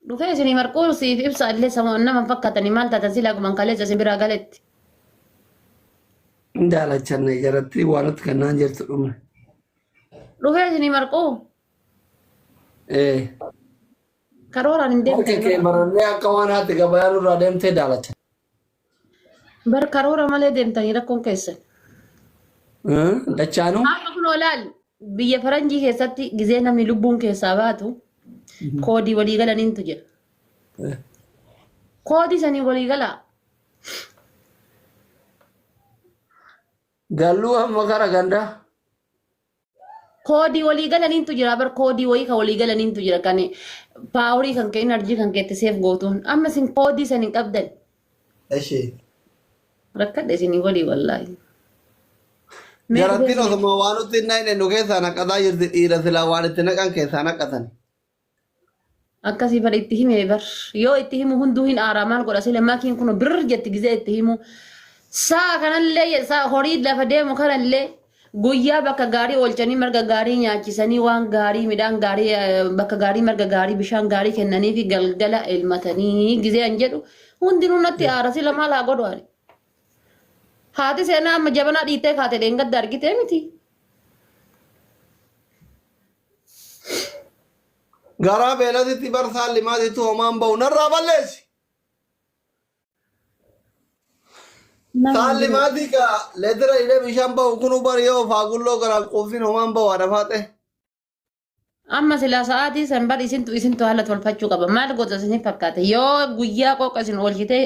Dhufee isinii marquu siif ibsa illee sama nama hin fakkaatanii maal taatan silaa guman kaleessa isin biraa galetti. Hin daalachanne jaratti waan nuti kannaan jirtu dhumne. Dhufee isinii marquu Ee. karooraan hin Harka kee deemtan. barannee akka waan haati gabayaa nurraa deemtee daalacha. Bar karoora malee deemtanii rakkoon keessan. Dachaanuu Amma kun olaal biyya faranjii keessatti gizee namni lubbuun keessaa baatu koodii walii galaniintu jira. Koodii sanii walii galaa. galluu amma gara gandaa. Koodii walii galaniintu jira bar koodii wayii kan walii galaniintu jira kan paaworii kan kee inarjii kan keetti seef gootuun amma isin koodii san hin qabdan Eshi. rakkadha isinii walii wallaahi. Mee Jarattiin dhufee- osuma waan nutti hin naqne nu keessaa naqataa jirti dhiira silaa waan itti naqan keessaa naqatan. akkasii bar itti hime bar yoo itti himu hunduu hin aaraa maal godha sile makiin kun birr jetti gizee itti himu saa kanallee saa horii lafa deemu kanallee guyyaa bakka gaarii oolchanii marga gaarii nyaachisanii waan gaarii midhaan gaarii eh, bakka gaarii marga gaarii bishaan gaarii kennanii fi galgala elmatanii gizee an jedhu hundinuu natti aara sila maal haa godhu ani haati seenaa amma jabanaa dhiittee kaate dheengadda argitee miti garaa beelatitti barsaan limaatitti homaan ba'u narraa balleessi. Saan limaatii gaa leetira hidhee bishaan ba'u kun bari yoo faagulloo garaan quufsiin homaan ba'u haadha faaxee. Amma silaa sa'aatii san bar isintu isintu haala tolfachuu qaba. Maal goota isin fakkaate? Yoo guyyaa qooqa isin oolchite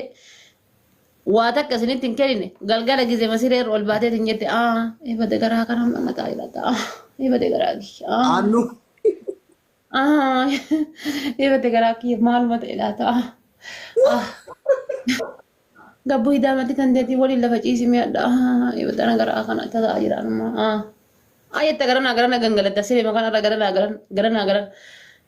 Waa takka isinitti hin kennine galgala gizema siree irra ol baatee hin jette aa eebade garaa kana mana taa ilaata aa eebade garaa kiyya aa Aannu aa eebade garaa kiyya maaluma ta'e laata aa aa gabbuu hidaa matti tan deetii waliin lafa ciisi mi'adha aa eebade ana garaa kana tataa jiraanuma aa aa jette garana garana gangalatta siree makaan irra garana garana garana garana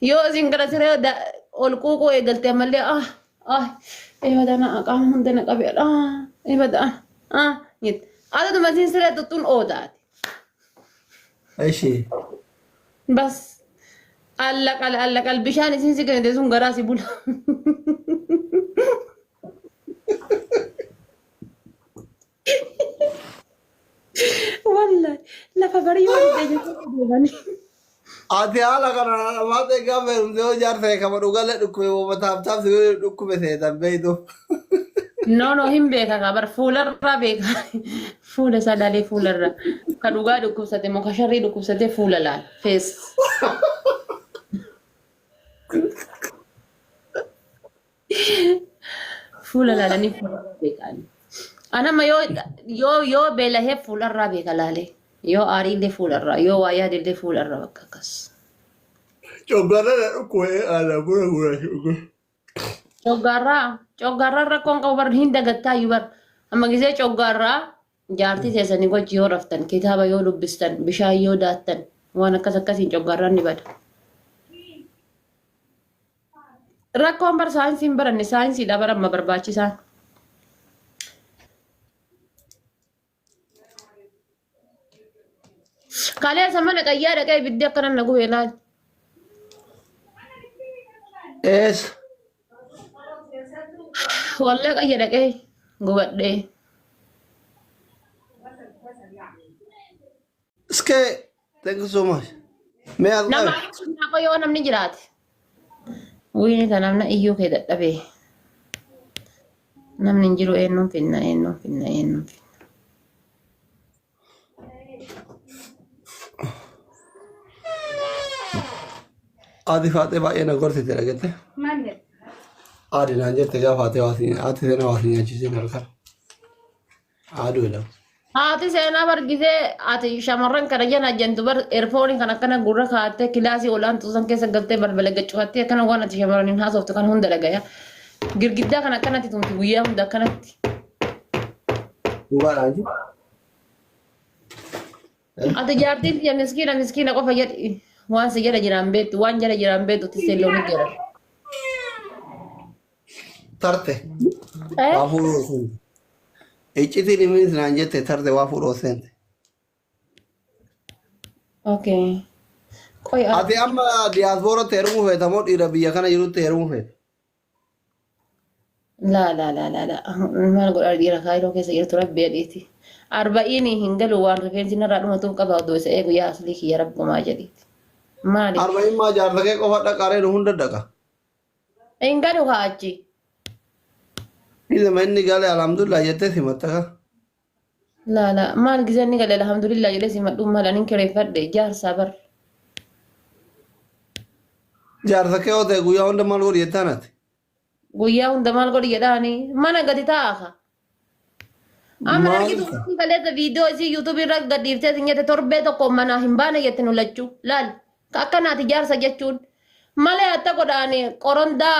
yoo isin gara siree da- ol quuquu eegalte ammallee aa Ah, eebada na qaama hunda na qabe. Ah, eebada. Ah, ah. jette. Ado dumatiin siree tuttuun oodaati. Ishee. Bas. Alla qal alla qal bishaan isiin si kennite sun garaa si bula. Wallahi lafa barii waan deebiin deebanii. Ati haala kana maata egaa beekumsa yoo ijaarsa eekama dhugalee dhukkube wama taaptaaf si godhe dhukkube seetan beeytu. No no hin beeka kaa bar fuularraa beeka. Fuula isaa ilaalee fuularraa. Ka dhugaa dhukkubsate moo ka sharrii dhukkubsate fuula laal. Fees. Fuula laalanii fuularraa beekan. Anamma yoo yoo yoo beelahee fuularraa beeka laalee. Yoo aariillee fuularraa, yoo waa yaadillee fuularraa bakka akkas. Coggaarra na dhukkubee haala buna buna shuguu. Coggaarraa, coggaarraa rakkoon qabu bar hin dagattaayyuu bar. Amma gisee coggaarraa Jaartii teessanii wajji yoo raftan, kitaaba yoo dubbistan, bishaan yoo daattan, waan akkas akkasiin coggaarraan ni bada. Rakkoon bar saayinsii hin baranne saayinsiidha bara amma barbaachisaan. Kaleessa mana qayyaa dhaqee ibiddi akkanan na gubee laal. Eessa? Wallee qayya dhaqee gubadhee. Iskee thank you so much. Mee as Nama qabe. sunnaa koo yoo namni jiraate. Wayne ta namna iyyuu kee dadhabee. Namni hin jiru eenyuun finna eenyuun finna eenyuun finna. Haati faatee baay'ee na gorsite dhagette. Maal jedhe? Haati naan jette gaafa haati waa siin haati seenaa waa siin nyaachisiin halkan. Haaduu jedhama. Haati seenaa bargisee ati shamarran kana jana jentu bar erfooni kan akkana gurra kaattee kilaasii olaantuu san keessa galtee balbala gacufattee akkana waan ati shamarraniin haasoftu kan hunda dhagaya. Girgiddaa kan akkanatti tumti guyyaa hunda akkanatti. Dhugaa raajii. Ati jaartiin tiyya miskiina miskiina qofa jedhi. Waan si jala jiraan beektu waan jala jiraan beektu tissee loonii jira. Tarte. Eh? Waa fuudhuu oseen. Iccitii dhiminis naan jette tarte waa fuudhuu oseen. Okay. Qoy Ati amma diyaasbooratti heerumuu feeta moo dhiira biyya kana jirutti heerumuu feeta? laa laa laa laa laa maal godhaa dhiira kaayiroo keessa jirtu rabbi jedhiiti arba'iini hin galu waan rifeensi narraa dhumatuuf qaba odoo isa eegu yaa aslii kiyya rabbumaa jedhiiti maali Arba'in maa jaarsa kee qofa dhaqa reenu hunda dhaqa. hin galu haa achi Ilma inni galee alhamdulillah jettee simatta kaa. Laa laa maal gizeen ni gale alhamdulillah jedhee si madhuun maal anin kireeffadhe jaarsaa bar. Jaarsa kee yoo ta'e guyyaa hunda maal godhi jettaan ati? Guyyaa hunda maal godhi jedhaani mana gadi taa'a ka. Amma Maal argitu isa? kun kaleessa viidiyoo isii yuutuubii irra gadhiiftee sin jette torbee tokko manaa hin baane jette nu lachuu laal. Akkanaati jaarsa jechuun. Malee atta godhaan qorondaa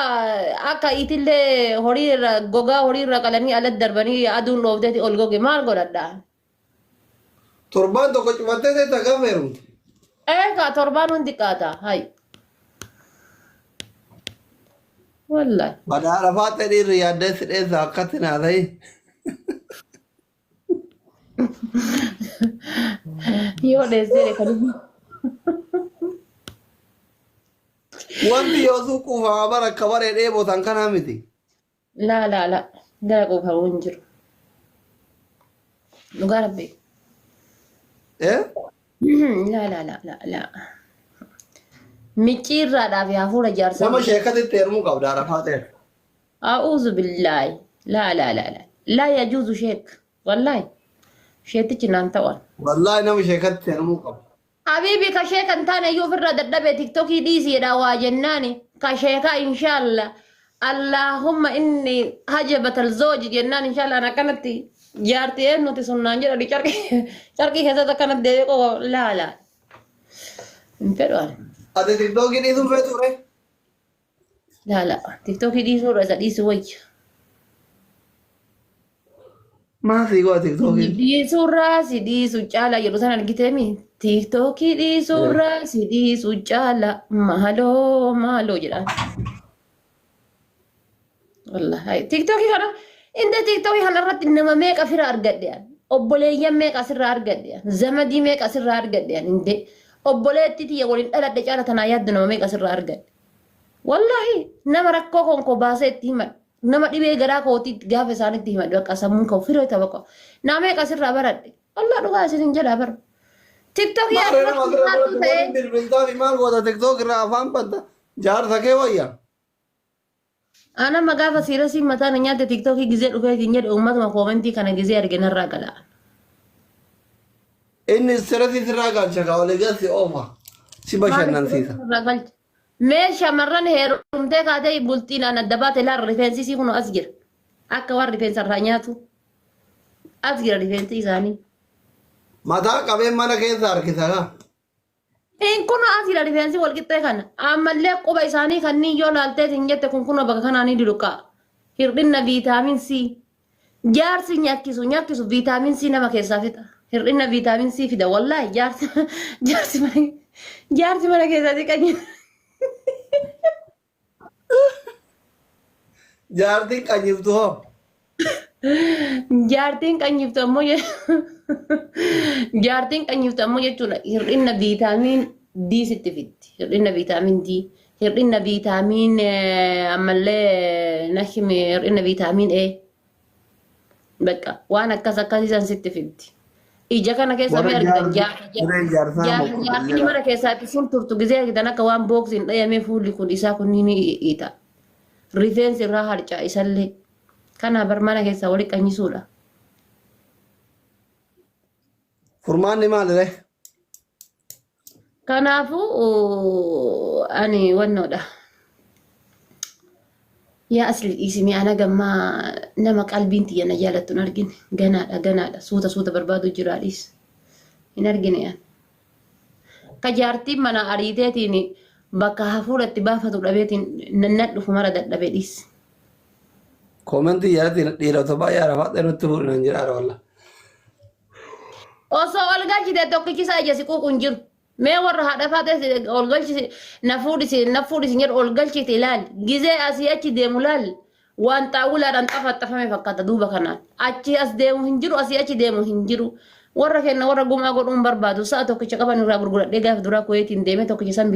akka itillee horii irra gogaa horii irra qalanii ala darbanii aduun dhoofteeti ol goge maal godhadha? Torbaan tokko cufattee teetta gaafa heerumte. Eegaa torbaan hundi qaata. Hay. Wallahi. Badhaadha faaxee dhiirri yaaddeessi dheessa akkatti naa ta'e. Yoo dheessee kan Wanti yoo sun kuufama bara akka baree dheebotan kanaa miti. laa laa laa gara quufamu hin jiru. Dhugaa rabbi. Eh? Laa laa laa laa laa. Micciirraadhaaf yaa fuula jaarsaa. Nama sheekatitti heerumuu qabda arafaa ta'e. A'uuzu billaahi laa laa laa laa laa yajuuzu sheek wallaahi sheetichi naan ta'an. Wallaahi nama sheekatti seenamuu qabu. Habiibi ka sheeka hin taane iyyuu ofirraa dadhabee tiktokii dhiisi jedhaa waa jennaani ka sheekaa inshaalla allaahumma inni hajabatal zooji jennaan inshaalla an akkanatti jaarti eennuti sun naan jedhani carqii carqii keessatti akkanatti deebi'ee qofa laala hin fedhu ani. Ati tiktookii dhiisuu feetu ree? Laala. Tiktookii dhiisuu irra isa dhiisuu wayya. Maal sii goota tiktookiin? Dhiisuu irraa si dhiisuu caala jedhu san argiteemi. Tiktookii dhiisuu irraa si dhiisuu caala maaloo maaloo jedhaan. Wallaahi. Tiktookii kana inda tiktookii kana irratti nama meeqa fira argadhe ani. Obboleeyyan meeqa asirraa argadhe ani. Zamadii meeqa asirraa argadhe ani indee. Obboleetti tiyya waliin dhaladhe caala tanaa yaaddu nama meeqa asirraa argadhe. Wallaahi nama rakkoo koon koo baasee itti himadhu. Nama dhibee garaa kootii itti gaafa isaanitti himadhu bakka sammuun koo firee ta'u bakka. Naa meeqa asirraa baradhe. Wallaahi dhugaa isiniin jedhaa bara. TikTok yaa Maarree nama asirraa irratti barattu ta'ee. waliin bilbiltaa fi maal goota tiktook irraa afaan banta jaarsa kee wayya. Aan amma gaafa siirasiin mataa na nyaatte tiktookii gizee dhufee siin jedhe uummatuma koomentii kana gizee arge narraa gala. Inni istirasii sirraa galcha kaa olii gad si oofa. Si Maal bashannansiisa. istirasii narraa galcha? Mee shamarran heerumtee kaatee bultiin aan adda baate laal rifeensi isii kunoo as jira. Akka waan rifeensa irraa nyaatu. As jira rifeensi isaanii. Mataa qabeen mana keessa harkisa kaa. Hin kunoo asiidha rifeensi walqixxee kana. Ammallee quba isaanii kanneen yoo laalteet hin jette kun kunoo bakka kanaa ni duluqa. Hir'inna viitaamin C. Jaarsi nyakkisu nyakkisu viitaamin C nama keessaa fixa. Hir'inna viitaamin C fida wallaahi jaarsi jaarsi mana jaarsi mana keessaa xiqqaa Jaartiin qanyiftu hoo. Jaartiin qanyiftu ammoo je- jaartiin qanyiftu ammoo jechuudha hir'ina viitaamiin D sitti fitti. Hir'ina viitaamiin D. Hir'ina viitaamiin eh, ammallee nashime hir'ina viitaamiin A. Bakka waan akkas akkasii san sitti fiddi. Ija kana keessa mee Warra argitan jaarsa- jaarsa warra jaarsaa jaarsa mokkotan jaarsi jedha. mana keessaatti sun turtu gisee argitan akka waan booksiin dhayamee fuulli kun isaa kun ni hiita. Rifeensi irraa harca'a isallee. Kana bar mana keessaa wali qanyisuudha. Furmaanni maaliree? Kanaafuu uu, ani wannoodha. Yaa asli dhiisimee ana gammaa nama qalbiin tiyya na jaalattu hin argine. Ganaadha ganaadha suuta suuta barbaadu jiraa dhiis. Hin argine an. Ka jaartiin mana ariiteetiin bakka hafuura itti baafatu dhabeetiin nannan dhufu mara dadhabe dhiis. Koomentii jalatti dhiirota baay'ee arafaadha nutti fuudhinan jedhaara walla. Osoo ol galchite tokkichi isaa ija siquuqu hin jiru. Mee warra haadha faatee ol galchisi na fuudhisi na fuudhisi jedhu ol galchiti ilaali. Gizee asii achi deemu ilaali. Waan xaawulaadhaan xafaxafame fakkaata duuba kanaan. Achi as deemu hin jiru asii achi deemu hin jiru. Warra kenna warra gumaa godhuun barbaadu sa'a tokkicha qaban irraa gurguradhee gaafa duraa kuweetiin deemee tokkicha san